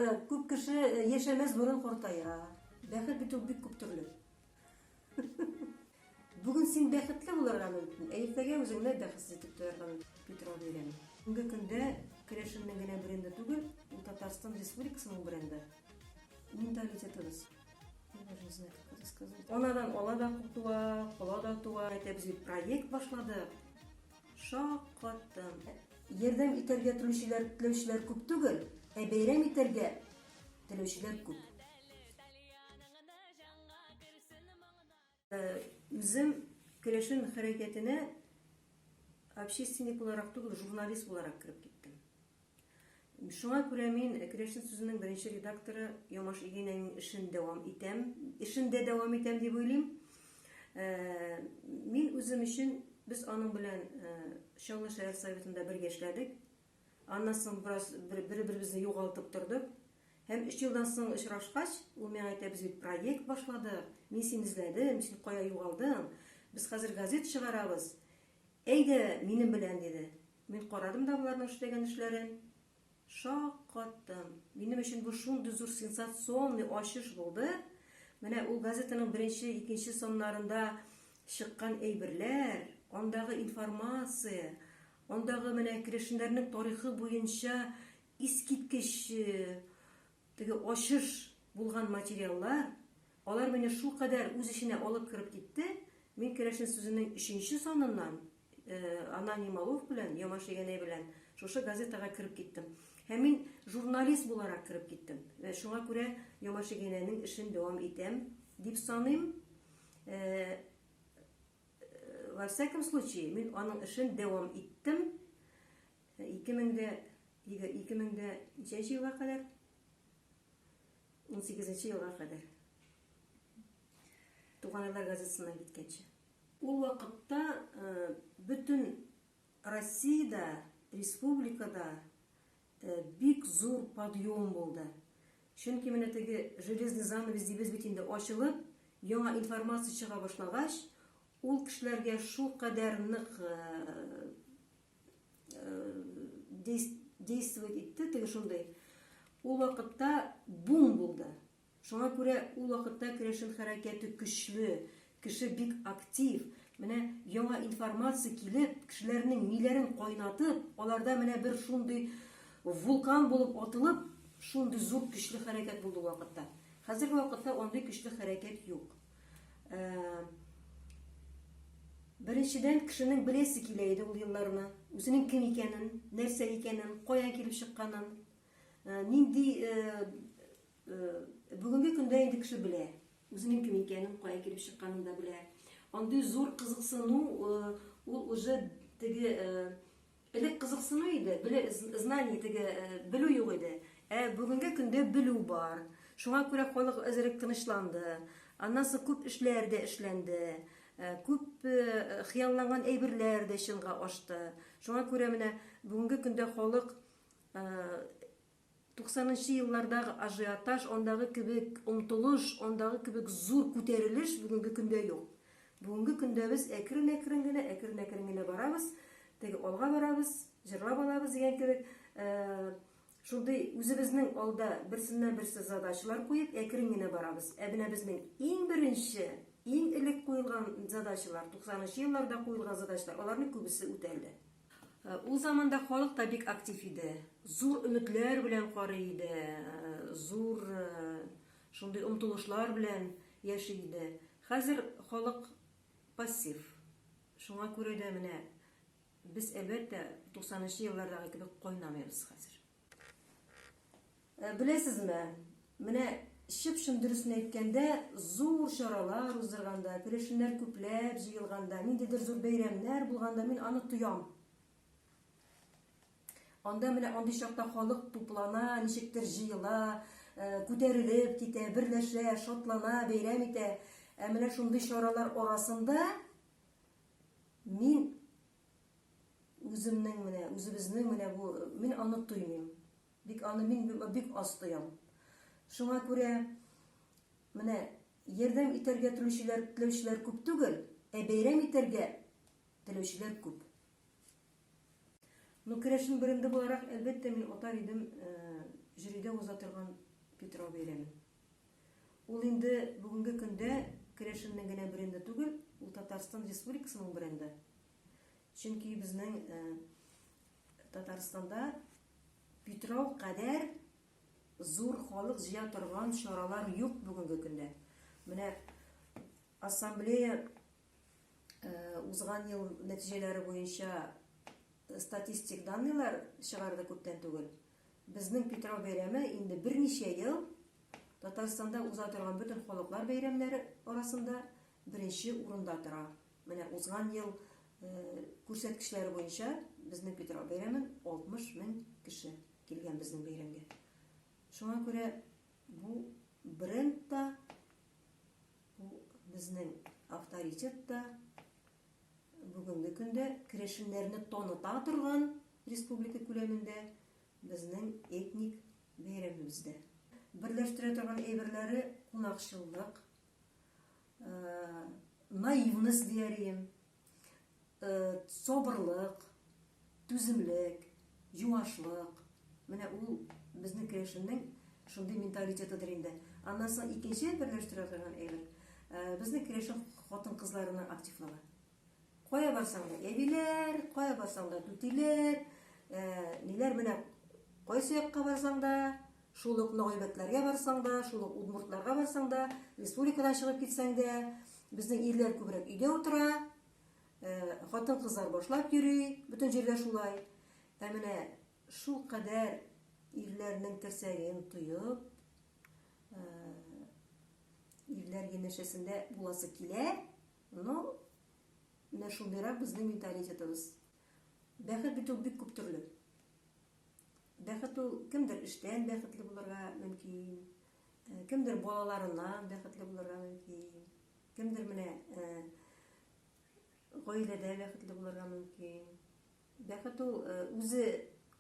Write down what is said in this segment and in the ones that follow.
Э, күп кеше э, яшәмәс борын картая. Бәхет бит ул бик күп төрле. Бүген син бәхетле булырга мөмкин, ә иртәгә үзеңне бәхетсез итеп тоярга мөмкин. Петро бирәм. Бүгенге көндә керәшеннең генә бренды түгел, ул Татарстан Республикасының бренды. Менталитетыбыз. Я даже не знаю, как это сказать. Анадан ала да туа, кола да туа. Әтәбез бит проект башлады. Шаккаттым. Ярдәм итәргә телүчеләр, теләүчеләр күп түгел, ә бәйрәм итәргә теләүчеләр күп. Үзем керәшен хәрәкәтенә общественник буларак түгел, журналист буларак кереп киттем. Шуңа күрә мин Керәшен сүзенең беренче редакторы Ямаш Игенәйнең эшен дәвам итәм, эшен дә дәвам итәм дип уйлыйм. Мин үзем өчен, без аның белән Чаллы шәһәр Советында бергә эшләдек. Аннан соң бераз бер-беребезне югалтып тордык. Һәм өч елдан соң очрашкач, ул миңа әйтә, без бит проект башладык, мин сине эзләдем, син кая югалдың, без хәзер газет чыгарабыз, әйдә минем белән, диде. Мин карадым да боларның эшләгән эшләрен. Шаккаттым. Минем өчен бу шундый зур сенсационный ачыш булды. Менә ул газетаның беренче, икенче саннарында чыккан әйберләр, андагы информация, андагы менә керәшеннәрнең тарихы буенча искиткеч теге ачыш булган материаллар, алар мине шулкадәр үз эченә алып кереп китте, мин керәшен сүзенең өченче саныннан Аноним алуф белән, Ямашегәнәй белән шушы газетага кереп киттем. Һәм мин журналист буларак кереп киттем. Вә шуңа күрә Ямашегәнәйнең эшен дәвам итәм дип саныйм. Э, во всяком случае, мин аның эшен дәвам иттем. 2000-дә 2000-дә ничәнче елга кадәр? 18 елга кадәр. Туганайлар газетасына киткәнче. Ул вакытта бөтен Россиядә, республикада бик зур подъем булды. Чөнки менә теге железный занавес дибез бит инде ачылып, яңа информация чыга башлагач, ул кешеләргә шулкадәр нык действовать итте, теге шундый, ул вакытта бум булды. Шуңа күрә ул вакытта керәшен хәрәкәте көчле, кеше бик актив. Менә яңа информация килеп, кешеләрнең миләрен кайнатып, аларда менә бер шундый вулкан булып атылып, шундый зур көчле хәрәкәт булды ул вакытта. Хәзерге вакытта андый көчле хәрәкәт юк. Беренчедән, кешенең беләсе килә иде ул елларны, үзенең кем икәнен, нәрсә икәнен, каян килеп чыкканын, нинди Бүгенге көндә инде кеше белә. Үзенең кем икәнен, кая килеп чыкканын да белә. Андый зур кызыксыну ул уже теге элек кызыксыну иде, беле знание теге белү юк иде. Ә бүгенге көндә белү бар. Шуңа күрә халык әзерәк тынычланды. Аннан соң күп эшләр дә эшләнде. Күп хыялланган әйберләр дә чынга ашты. Шуңа күрә менә бүгенге көндә халык Туксанынчы еллардагы ажиотаж, андагы кебек омтылыш, андагы кебек зур күтәрелеш бүгенге көндә юк. Бүгенге көндә без әкрен-әкрен генә, әкрен-әкрен генә барабыз, теге алга барабыз, җырлап алабыз дигән кебек, шундый үзебезнең алда берсеннән-берсе задачалар куеп, әкрен генә барабыз. Ә менә безнең иң беренче, иң элек куелган задачалар, туксанынчы елларда куелган задачалар, аларның күбесе үтәлде. Ул заманда халык та бик актив иде. Зур өметләр белән карый иде, зур шундый омтылышлар белән яши иде. Хәзер халык пассив. Шуңа күрә дә менә без, әлбәттә, 90 нчы еллардагы кебек кайнамыйбыз хәзер. Ә беләсезме, менә чып-чын дөресен әйткәндә, зур чаралар уздырганда, керәшеннәр күпләп җыелганда, ниндидер зур бәйрәмнәр булганда мин аны тоям. Анда менә андый чакта халык туплана, ничектер җыела, э, күтәрелеп китә, берләшә, шатлана, бәйрәм итә. Ә менә шундый чаралар арасында мин Үземнең менә, үзебезнең менә бу, мин аны тоймыйм. Бик аны мин бик аз тоям. Шуңа күрә менә ярдәм итәргә телүчеләр, теләүчеләр күп түгел, ә бәйрәм итәргә теләүчеләр күп. Ну, керәшен бренды буларак, әлбәттә, мин атар идем э, жюрида уза торган Питрау бәйрәмен. Ул инде бүгенге көндә керәшеннең генә бренды түгел, ул Татарстан Республикасының бренды. Чөнки безнең Татарстанда Питрау кадәр зур халык җыя торган чаралар юк бүгенге көндә. Менә ассамблея узган ел нәтиҗәләре буенча статистик данныйлар чыгарды күптән түгел. Безнең Питрау бәйрәме инде берничә ел Татарстанда уза торган бөтен халыклар бәйрәмнәре арасында беренче урында тора. Менә узган ел күрсәткечләре буенча безнең Питрау бәйрәмен 60 мең кеше килгән безнең бәйрәмгә. Шуңа күрә бу бренд та, бу безнең авторитет та, Бүгенге көндә керәшеннәрне таныта торган республика күләмендә безнең этник бәйрәмебез дә. Берләштерә торган әйберләре кунакчыллык, наивность диярем, сабырлык. Түземлек, юашлык, менә ул безнең керәшеннең шундый менталитетыдыр инде. Аннан соң икенче берләштерә торган әйбер, безнең керәшен хатын-кызларының активлыгы. Кая барсаң да әбиләр, кая барсаң да түтиләр, ниләр менә кайсы якка барсаң да, шул ук нагыйбәтләргә барсаң да, шул ук удмуртларга барсаң да, республикадан чыгып китсәң дә, безнең ирләр күбрәк өйдә утыра, Ә, хатын-кызлар башлап йөри, бөтен җирдә шулай. Ә менә шул кадәр ирләрнең терсәген тоеп, ә, ирләр янәшәсендә буласы килә, но менә шундыйрак безнең менталитетыбыз. Бәхет бит ул бик күп төрле. Бәхет ул кемдер эштән бәхетле булырга мөмкин, ә, кемдер балаларыннан бәхетле булырга мөмкин, кемдер менә ә, Гаиләдә бәхетле булырга мөмкин. Бәхет ул үзе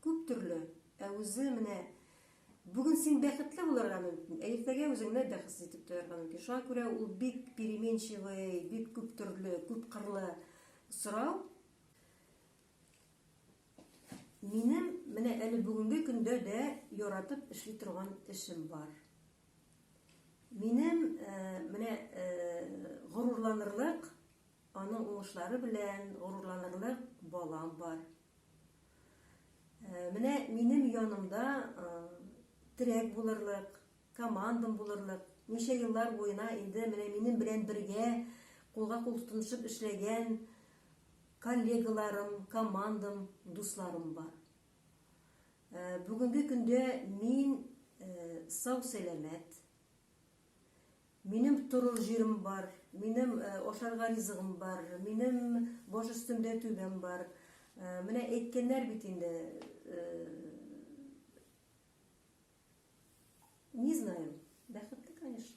күп төрле, ә үзе менә бүген син бәхетле булырга мөмкин, ә иртәгә үзеңне бәхетсез итеп тоярга мөмкин. Шуңа күрә ул бик переменчивый, бик күп төрле, күп кырлы сорау. Минем менә әле бүгенге көндә дә яратып эшли торган эшем бар. Минем менә горурланырлык, аның уңышлары белән горурланырлык балам бар. Менә минем янымда терәк булырлык, командам булырлык, ничә еллар буена инде менә минем белән бергә кулга-кул тотынышып эшләгән коллегаларым, командам, дусларым бар. Бүгенге көндә мин сау-сәламәт. Минем торыр җирем бар, минем ашарга ризыгым бар, минем баш өстемдә түбәм бар. Менә әйткәннәр бит инде, не знаем, бәхетле, конечно.